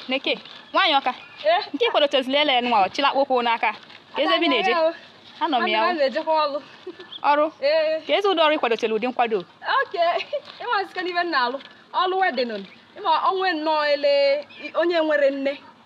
Neke, nwaanyị Ọka nke ị kwadotezili ele nwa chịla akpụkpọ ụkwụ n'aka kezi ebe ị na-eje anọ m ya ọrụ kezi ụdị ọrụ ị kwadotere ụdị nkwado ọlụ wedding ị ma onwe nnọọ ele onye nwere nne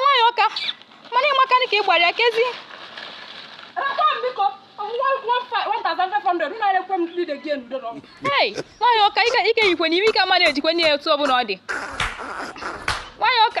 nwaanyị Ọka mana ị makana ka ị gbara ya kezi Hey, nwaanyị Ọka ike ike yikwe na ime ike ama na-ejikwe n'ihe otu ọ bụla ọ dị nwaanyị Ọka